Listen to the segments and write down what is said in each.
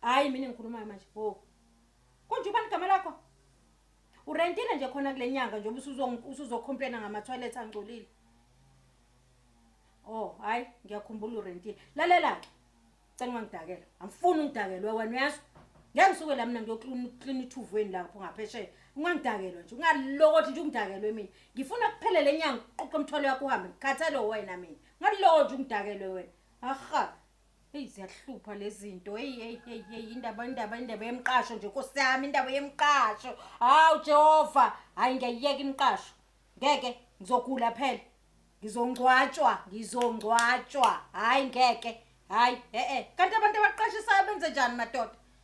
hayi mina engikhulumayo manje bo konje ubani igama lakho urentile nje khona kule nyanga njengoba usuzo- usuzocomplaina ngama-toilet angcolile o oh, hhayi ngiyakhumbula urentile lalela-ke cela ungangidakela angifuni ungidakelwe wena uyazwa ngeke ngisuke la mina ngiyoklina ithuvweni lapho ngaphesheya ungangidakelwa nje ungalokothi nje ungidakelwe mina ngifuna kuphele le nyanga uqoqe umthwalo yakho uhambe ngikhathale wena mina ungalokothi ungidakelwe wena aha Hey ziyahlupha lezinto. Hey hey hey hey indaba indaba indaba yemqasho nje Nkosi yami indaba yemqasho. Hawu Jehova, hayi ngiyayiyeka imqasho. Ngeke ngizogula phela. Ngizongcwatshwa, ngizongcwatshwa. Hayi ngeke. Hayi eh eh. Kanti abantu abaqashisayo benze njani madoda?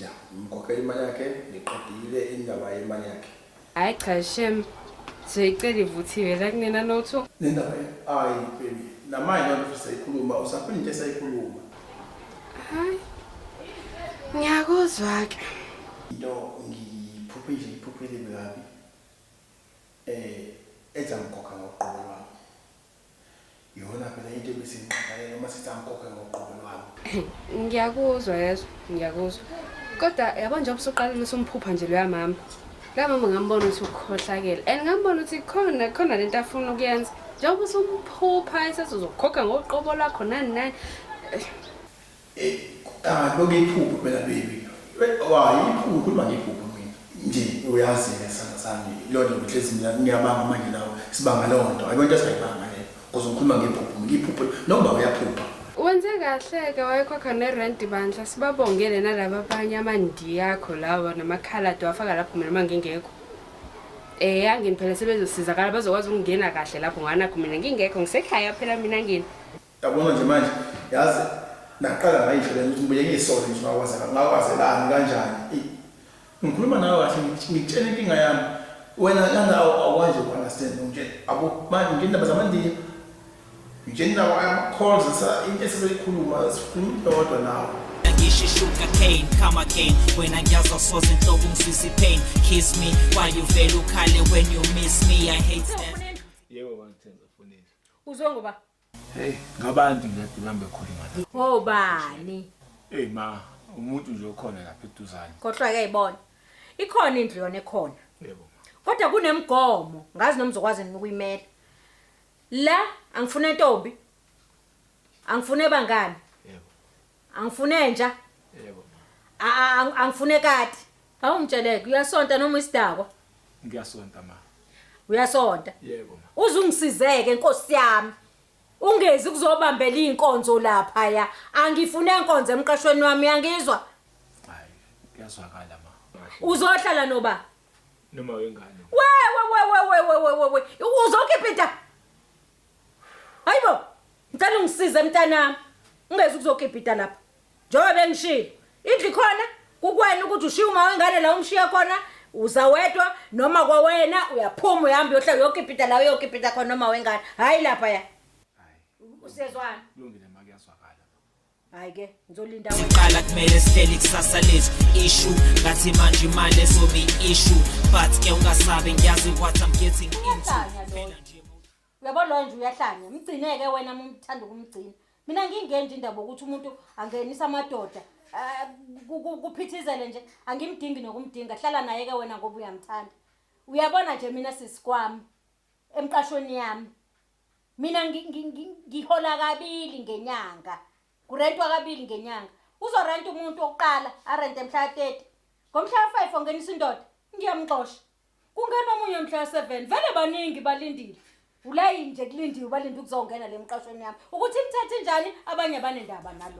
Ya, ngimkhokhela imali yakhe, ngiqedile indaba yemali yakhe. Hayi cha shem. Sizoyicela ivuthiwe la kunena lotho. Nendaba ye ayi baby. Namanje lona futhi sayikhuluma, usaphila into esayikhuluma. Hayi. Ngiyakuzwa ke. Into ngiphuphe nje iphuphe elibi kabi. Eh, ethi angikhokha ngoqobo lwami. Yona phela into ebisinqakalela uma sithi angikhokhe ngoqobo lwami. Ngiyakuzwa yezwa, ngiyakuzwa. Kodwa yabo njengoba usuqalile usumphupha nje loya mama. Loya mama ngambona ukuthi ukhohlakele and ngambona ukuthi khona khona lento afuna ukuyenza. Njengoba usumphupha esethi uzokhokha ngoqobo lwakho nani nani. Eh, ah, loke iphupho phela baby. Wa iphupho khuluma ngephupho mina. Nje uyazi ke sana sami. Lona ngihlezi mina ngiyabanga manje nawe. Sibanga lonto. Ayikho into esayibanga le. Kuze ngikhuluma ngephupho. Ngiphupho noma uyaphupha. Wenze kahle-ke wayekhokha nerenti bandla sibabongele nalaba abanye amandiya akho lawa namakhaladi wafaka lapho mina uma ngingekho Eh yangini phela sebezosizakala bazokwazi ukungena kahle lapho nganakho mina ngingekho ngisekhaya phela mina ngini. Yabona nje manje yazi naqala ngayihlela ukuthi ngibuye ngisole nje ngakwaze ngakwazelani kanjani. Ngikhuluma nawe kahle ngitshela inkinga yami wena kana awanje ku understand nje abo manje ngindaba zamandiya ngitshela nawe ama calls sa into esizoyikhuluma sikhuluma dodwa nawe ngisho ishuga cane come again wena ngiyazwa soze inhloko ngisisi pain kiss me why you vele ukhale when you miss me i hate that yebo bangithenza funisa uzwe ngoba Hey, ngabantu nje adibana bekhuluma la. Oh bani? Hey ma, umuntu nje okhona lapha eduzane. Khohlwa ke ibona. Ikhona indlu yona ekhona. Yebo. Kodwa kunemigomo, ngazi noma uzokwazi nini ukuyimela. La angifune ntombi. Angifune bangani. Yebo. Angifune entsha. Yebo. Angifune kati. Awungitsheleke uyasonta noma isidakwa? Ngiyasonta ma. Uyasonta? Yebo ma. Uze ungisizeke Nkosi yami. Ungezi kuzobambela inkonzo lapha ya. Angifune inkonzo emqashweni wami yangizwa. Hayi, kuyazwakala ma. Uzohlala noba? Noma wengane. Wewe wewe wewe wewe. Uzokhipha into. Hayibo, ngicela ungisize mntanami. Ungezi ukuzokipita lapha. Njengoba bengishilo, indlu khona kukwena ukuthi ushiye uma wengane la umshiya khona uza wedwa noma kwawena uyaphuma uyahamba uyohlala uyokipita la uyokipita khona noma wengane. Hayi lapha ya. Usiyezwana. Kulungile ma kuyazwakala. hayi ke ngizolinda siqala kumele sihleli kusasa lethu ishu ngathi manje imali ezobe ishu but ke ungasabi ngiyazi what i'm getting into uyabo loyo nje uyahlanya mgcineke wena mumthanda ukumgcina mina ngingenje indaba ukuthi umuntu angenisa amadoda eh, kuphithizele nje angimdingi nokumdinga hlala naye ke wena ngoba uyamthanda uyabona nje mina sisikwami emqashweni yami mina ngi- ngi- ngi- ngihola kabili ngenyanga kurentwa kabili ngenyanga uzorenta umuntu wokuqala arente mhla ka-30 ngomhla ka-5 ongenisa indoda ngiyamxosha kungena omunye mhla ka-7 vele baningi balindile ulayini nje kulindiwe balinde ukuzongena le mqashweni yami ukuthi imthethe njani abanye banendaba nalo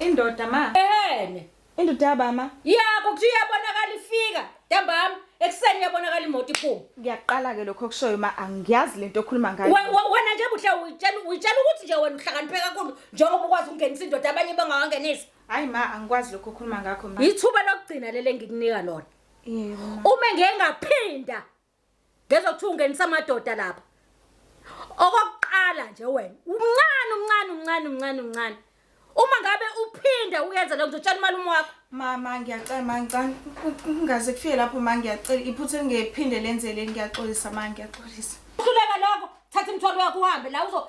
Indoda ma. Ehene. Indoda yabama. Yabo kuthi uyabonakala ifika. Dambama ekuseni uyabonakala imoto iphuma. Ngiyaqala ke lokho okushoyo ma angiyazi lento okhuluma ngayo. Wena nje buhle uyitshela uyitshela ukuthi nje wena uhlakaniphe kakhulu njengoba ukwazi ukungenisa indoda abanye bengawangenisa. Hayi ma angikwazi lokho okhuluma ngakho ma. Yithuba lokugcina lele ngikunika lona. Yebo. Uma ngeke ngaphinda Ngezwa kuthiwa ungenisa amadoda lapha. Okokuqala nje wena, umncane umncane umncane umncane umncane. Uma ngabe uphinde uyenza lokho ngizotshela umalume wakho. Mama ngiyacela mangicane kungaze kufike lapho ma ngiyacela iphutha engephinde lenzele ngiyaxolisa ma ngiyaxolisa. Uhluleka lokho thatha imthwalo yakho uhambe la uzo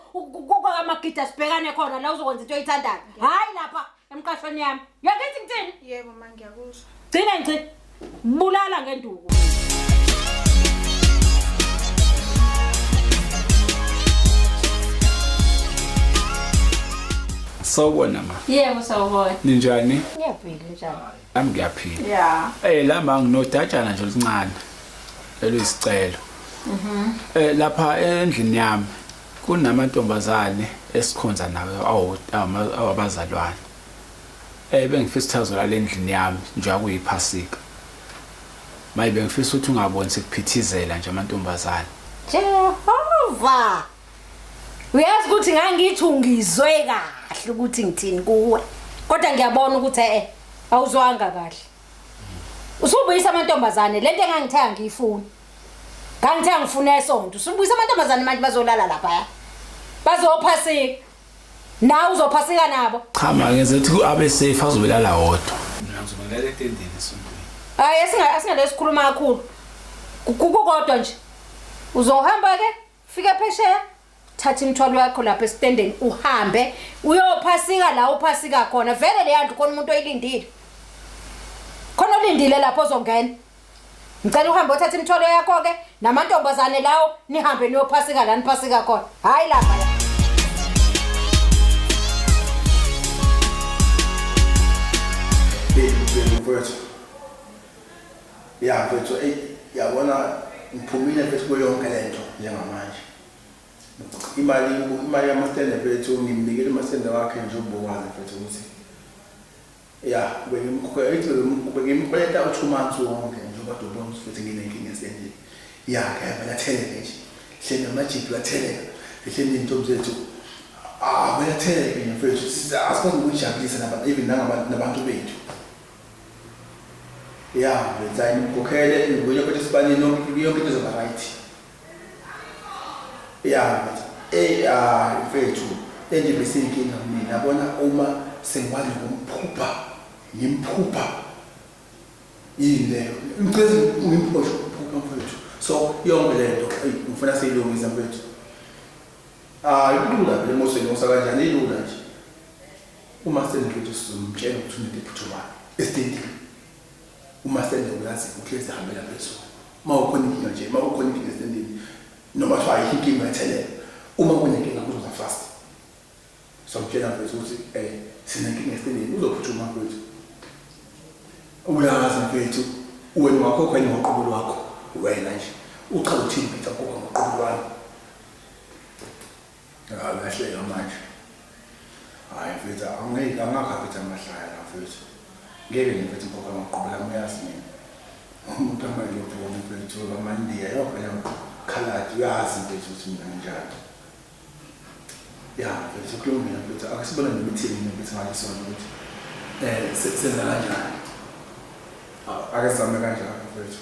amagida sibhekane khona la uzokwenza into oyithandayo. Hayi lapha. emqashweni yami yakithi ngithini yebo ma ngiyakuzwa gcina ngci bulala ngenduku Sawubona ma. Yebo sawubona. Ninjani? Ngiyaphila njani? Nami ngiyaphila. Yeah. Eh la ma nginodatshana nje oluncane. Eluyisicelo. Mhm. Eh lapha endlini yami. Kunamantombazane esikhonza nawo awabazalwane eh, bengifisa ukuthi azolala endlini yami njengoba kuyiphasika. Maye bengifisa ukuthi ungaboni sekuphithizela nje amantombazane. Jehova! Uyazi ukuthi ngangithi ungizwe kahle ukuthi ngithini kuwe. Kodwa ngiyabona ukuthi eh awuzwanga kahle. Usubuyisa amantombazane lento engangithaya ngiyifuna. Ngangithe ngifuna esonto. Sibuyisa amantombazane manje bazolala lapha. Bazophasika. Nawe uzophasika nabo. Cha ma ngenze ukuthi abe safe azobelala wodwa. Mina ngizobelala etendeni esontweni. Hayi asinga asinga lesikhuluma kakhulu. Kukukodwa nje. Uzohamba ke? fika phesheya thatha imithwalo yakho lapha esitendeni uhambe uyophasika la uphasika khona vele leya ndlu khona umuntu oyilindile khona olindile lapho ozongena ngicela uhambe othatha imithwalo yakho-ke namantombazane lawo nihambe niyophasika la niphasika khona hhayi lapha la mfowethu ya mfethu eyi yabona ngiphumile mfethu kuyo yonke le nto njengamanje imali imali yamastende mfethu ngimnikele umastende wakhe nje ubukwazi mfethu ukuthi ya bengimkhweleta u-two months wonke njengoba dobona futhi nginenkinga esendlini ya kayaba latheleke nje hleni amajiphi latheleka ehleni iy'ntombi zethu abelatheleke ah, mfethu asikwazi ukujabulisa even nabantu bethu ya benzani mkhokhele ngibuye futhi sibanini yonke yonke into izoba right ya eh ah mfethu endimise inkinga mina yabona uma sengikwazi ngomphupha ngimphupha yini leyo ngicela ngimphoshe ukuphupha mfethu so yonke le nto eyi ngifuna siyilungisa mfethu hayi kulula vele moseni osa kanjani ilula nje Uma sengiqeda uSizulu ngimtshela ukuthi unento ephuthumayo esitendini. Uma sende uyazi ukuthi ezihambela phezulu. Uma ukhona inkinga nje, uma ukhona inkinga esitendini noma kuthiwa ayikho inkinga ethelela. Uma kunenkinga kuzoza fast. So ngitshela mfethu ukuthi eh sinenkinga esitendini uzophuthuma mfethu. Uyazi mfethu wena wakho kwenye ngoqobo lwakho wena nje. Uchaza uthini mfethu akukho ngoqobo lwakho. Akahleka manje. Hayi mfethu angeke angakhaphetha amahlaya la mfethu. Ngeke nje mfethu ngikhokha amaqola ami uyazi mina. Umuntu amanje uphuma mfethu amandiya yophela khaladi uyazi mfethu ukuthi mina nginjani. Ya mfethu kulungile mfethu akusibona nemithini mfethu ngathi sona ukuthi eh senza kanjani. Akazame kanjani mfethu.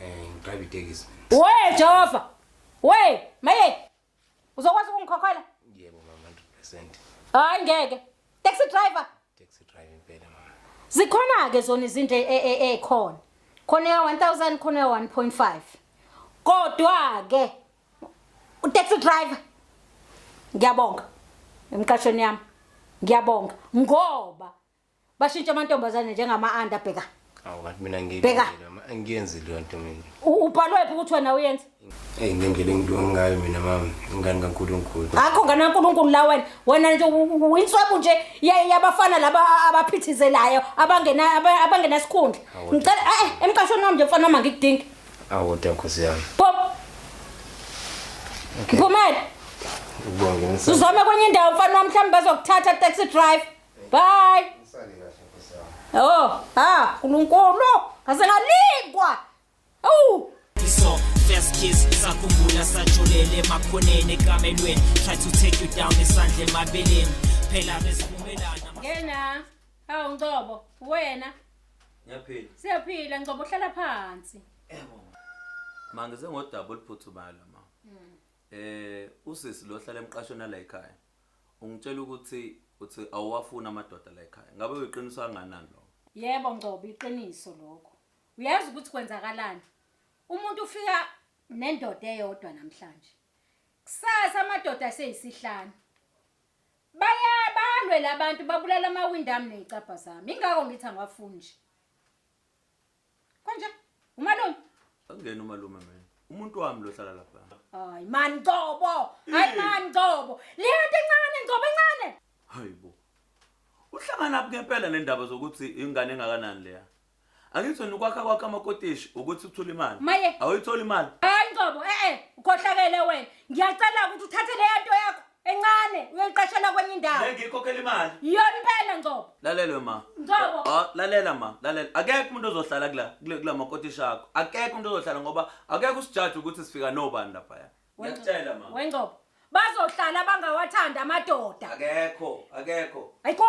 Eh ngidrive itekisi. We Jehova. We maye. Uzokwazi ukungikhokhela? Yebo mama 100%. Hayi ngeke. Taxi driver. Taxi driver impela mama. Zikhona ke zona izinto ekhona. Khona ya 1000 khona ya 1.5. Kodwa ke u taxi driver ngiyabonga emqashweni yami ngiyabonga ngoba Bashintsha amantombazane njengama anda bheka. Awu kanti mina Bheka. angiyenzi leyo nto mina. U- Ubhalwe phi ukuthi wena uyenza? Hey ngendlela engidonga ngayo mina mama ingane kaNkulunkulu. Akho ngane kaNkulunkulu la wena. Wena nje u- u- uyinswebu nje ya- yabafana laba a- abaphithizelayo abangena aba- abangenasikhundla. Awu. Ngicela eh emqashweni wami nje mfana wami angikudingi. Awu kodwa nkosi yami. Pop. Mphumela. Ukubonga ngenisa. Uzame kwenye indawo mfana wami mhlawumbe bazokuthatha taxi drive. Bye. Usale kahle Nkosi yami. Oh, ah, uNkulunkulu, ngase ngalingwa. Awu. So first kiss sakhumbula sajolele makhoneni ekamelweni try to take you down isandla emabeleni phela besivumelana Ngena. Hawu Ngcobo, wena ngiyaphila siyaphila Ngcobo hlala phansi. ma ngize ngodaba oluphuthumayo la ma um usisi lo hlala emqashweni ala ekhaya Ungitshela ukuthi uthi awuwafuni amadoda la ekhaya. Ngabe uyiqiniso kangakanani lokho? Yebo Ngcobo, iqiniso lokho. Uyazi ukuthi kwenzakalani? Umuntu ufika nendoda eyodwa namhlanje. Kusasa amadoda aseyisihlanu. Baya balwe labantu babulala amawindi ami nezicabha zami. Ingakho ngithi angiwafuni nje. Konje umalume. Angena umalume mina. Umuntu wami lo hlala lapha. Hayi man Ngcobo. Hayi man Ngcobo. Leyo nto encane Ngcobo encane. Hayibo. Uhlangana phi ngempela nendaba zokuthi ingane engakanani leya? Angithi wena ukwakha kwakhe amakotishi ukuthi uthule imali. Maye. Awuyitholi imali. Hayi Ngcobo, eh eh, ukhohlakele wena. Ngiyacela ukuthi uthathe leyo nto yakho. encane uyoliqashela kwenye indawo lengikhokhela imali iyona impela ngcobo lalelwe ma ngcobo oh, lalela ma lalela akekho umuntu ozohlala kula kula makotisha akho akekho umuntu ozohlala ngoba akekho usijaji ukuthi sifika nobani lapha ya ngiyakutshela ma wengcobo bazohlala bangawathanda amadoda akekho akekho ayikho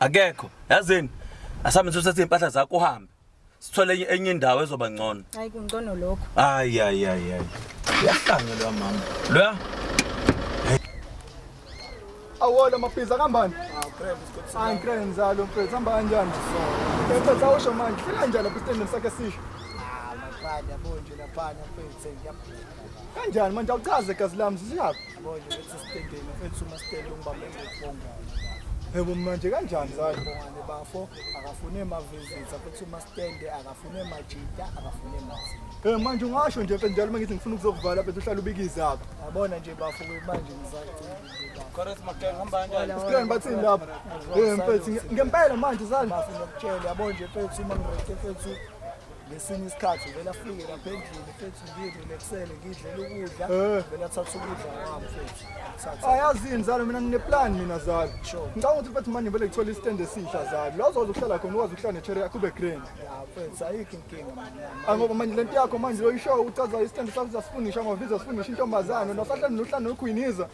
akekho yazini asambe sithathe impahla zakho uhambe sithole enye- enye indawo ezoba ngcono hayi kungcono lokho hayi hayi hayi hayi uyahlanya loya mama loya awolo maphiza kambani hayi ngikre nzalo mfethu hamba kanjani mfethu awusho manje fika njani lapho isitendeni sakhe sisho kanjani manje awuchaze gazi lami zisiyaphi Yebo manje kanjani zayo bongane bafo akafune mavisits futhi umastende akafune majita akafune mazi. Eh manje ungasho nje mfethu njalo mangithi ngifuna ukuzokuvala mfethu uhlala ubikize apha. Yabona nje bafo manje ngisacela nje bafo. Chorus makhaya hamba kanjani? Usikhona bathini lapha? Eh mfethu ngempela manje sani. Bafo ngiyakutshela yabona nje mfethu uma ngireke mfethu ngesinye isikhathi vele afike lapha endlini mfethu ngirelaxele ngidlela ukudla Eh. vele athathe ukudla kwami mfethu Athathe. ayazini zalo mina ngineplan mina zalo Sure. ngicabanga ukuthi mfethu manje vele ngithole istand esisha zalo la uzokwazi ukuhlala khona ukwazi ukuhlala nechere yakho ube grand Ya, mfethu ayikho inkinga manyana Ah, ngoba manje lento yakho manje loyishow uchaza istand sakho uzasifunisha amaviza asifunisha intombazane nasahlani nohlani nokhwiniza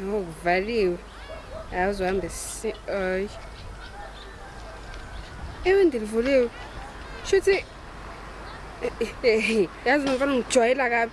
Yho kuvaliwe. Hayi uzohamba esi ay. Ewe ndilivuliwe. Shuthi yazi nomfana ngijwayela kabi.